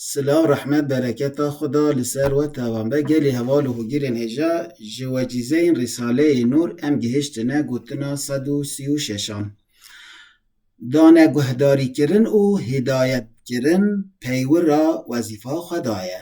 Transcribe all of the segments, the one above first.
Silav rehmet bereketa Xweda li ser we tevam be gelê heval û hûgîrên hêja ji wecîzeyên Rîsaleyê Nûr em gihiştine gotina sed û sî û şeşan. Dane guhdarîkirin û hîdayetkirin peywira wezîfa Xweda ye.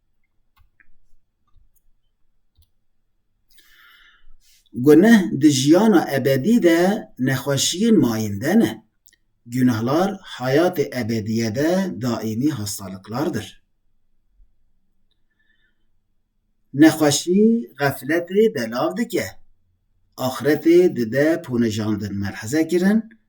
Guneh di jiyana ebedî de nexweşiyên mayînde ne. Gunehlar heyatê ebedîye de daîmî hastaliklardir. Nexweşî xefletê belav dike. Axretê dide ponijandin melheze kirin.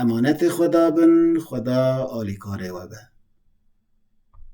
Emanetê Xweda bin, Xweda alîkarê we be.